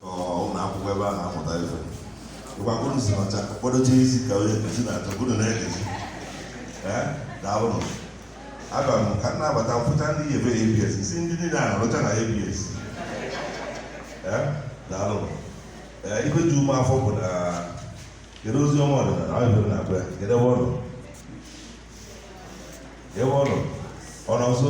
ụlọ akwụkwọ ebe a na-amụta ife ịgwakụrụ si ọcha kpọdocha isi ka onye nkuzi na-achọ bụrụ na-egezi daalụnụ abịa m ka m na-abata mfụcha ndị yi ebe abs isi ndị niile a na-arụcha na abs daalụnụ ife ji ume afọ bụ na kedu Oziọma ọdịnala ọ yebere na abịa kedu ebe ọ nọ ebe ọ nọ ọ nọ nso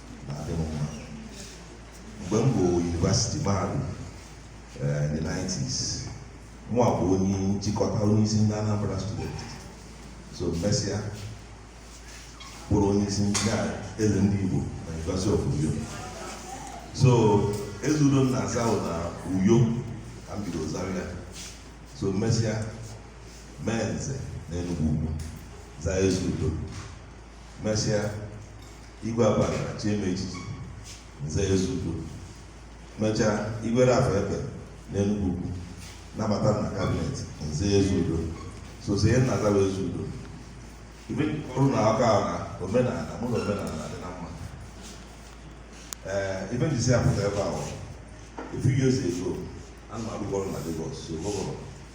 na-adị m mma mgbe m bụ university mahadum eh, in the 90s mụa bụ onye nchịkọta onye isi ndị Anambra student so mesịa bụrụ onye isi ndị a eze ndị Igbo na University of Uyo so Ezeudo m na-aza na Uyo ka m bido zawa ya so mesịa mee nze na Enugwu Ukwu zaa Ezeudo mesịa igwe Abagana chie m echichi nze Ezeudo mechaa igwe Ralph Ekpeh na Enugwu Ukwu nabata m na cabinet nze Ezeudo so ife m na-aza bụ Ezeudo ife ọrụ na aka na omenala mụ na omenala dị na mma ee ife m jisi apụta ebe ahụ a few years ago ana m arụkọ ọrụ na Lagos so gọvanọ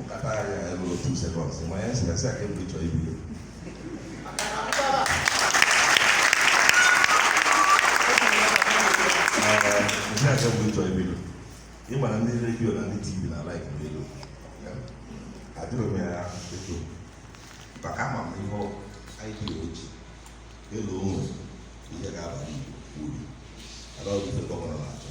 nkata ya elu otu second ma ya sịrị sị aka ebu chọọ ibido ndị aka bụ ịchọ ibido ị ma na ndị redio na ndị tv na like n'elu ajụrụ m ya eto maka ama m ihe anyị dị oji elu ụmụ ihe ga-abara Igbo uru ala ọdụfe gọvanọ na-achọ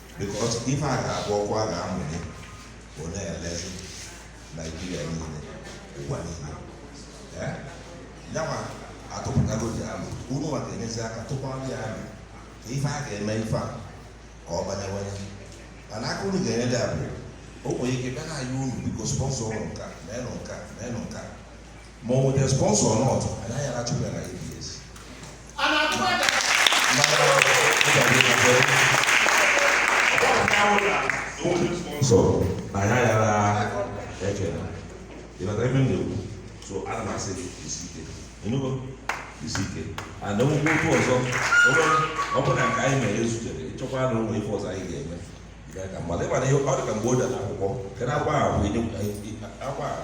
because ife a ga-abụ ọkụ a ga-amụnye bụ na-elezi naijiria niile ụwa niile Eh? yanwa atụpụtagozi alo unu nwa ga-enyezi aka tụkwara ya alo ka ife a ga-eme ife a ka ọ banyewanye mana aka unu ga-enye dị abụọ o nwere ike bịa na-ayọ unu biko sponsorọnụ nka meenụ nka meenụ nka ma ọ bụ the sponsor or not anaghị arachụ ya na ABS a na-atụ aja so na ya yara eche na ịbata ebe m na-ekwu so ana m asị gị isi ike ị nụgo isi ike and enwekwa otu ọzọ ọ bụ na nke anyị mere ezutere ị chọkwa na o nwe ife ọzọ anyị ga-eme mmadụ ịmana ihe ọ dị ka mgbe o dara akwụkwọ kedu akwa ahụ akwa ahụ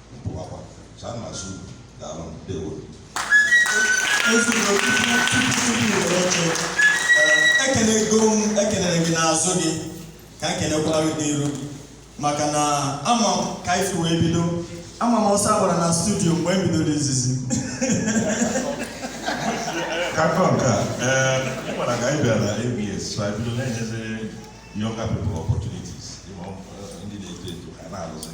ekenego m ekenere gị n'azụ gị ka ekenekwara gị n'iru maka na ama m ka ife wee bido ama m ọsọ agbara na studio mgbe e bidoro izizi kakọ nke a ee ị mara ka anyị bịara na ABS so anyị bido na-enyezi younger people opportunities ndị na-eto eto ha na-arụzi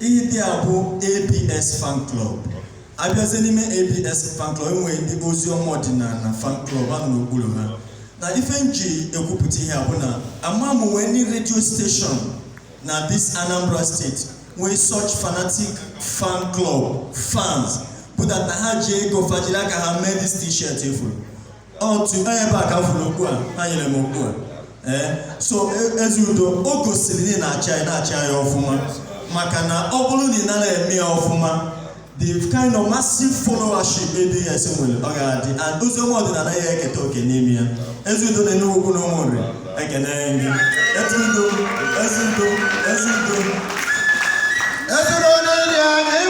Ihe dị a bụ ABS fan club. Abịazie n'ime ABS fan club enwere ndị Oziọma Ọdịnanị fan club a nọ n'okpuru ha. Na ife m ji ekwupụta ihe a bụ na ama m nwee any radio station na this Anambra State nwee such fanatic fan club fans bụ that na ha ji ego fa jiri aka ha mee this t-shirt ị fụrụ. otu onye ebe a ka fụrụ okwu a ha nyere m okwu a ee so e, Ezeudo o gosiri na ị na-achị anyị na-achị anyị ọfụma maka na ọ bụrụ na ị nara eme ya ọfụma the kind of massive followership ABS nwere ọ ga-adị and Oziọma Ọdịnanị ya eketa oke n'ime ya Ezeudo na Enugwu Ukwu na Ụmụnri ekene gị Ezeudo Ezeudo Ezeudo Ezuru onye dị anyị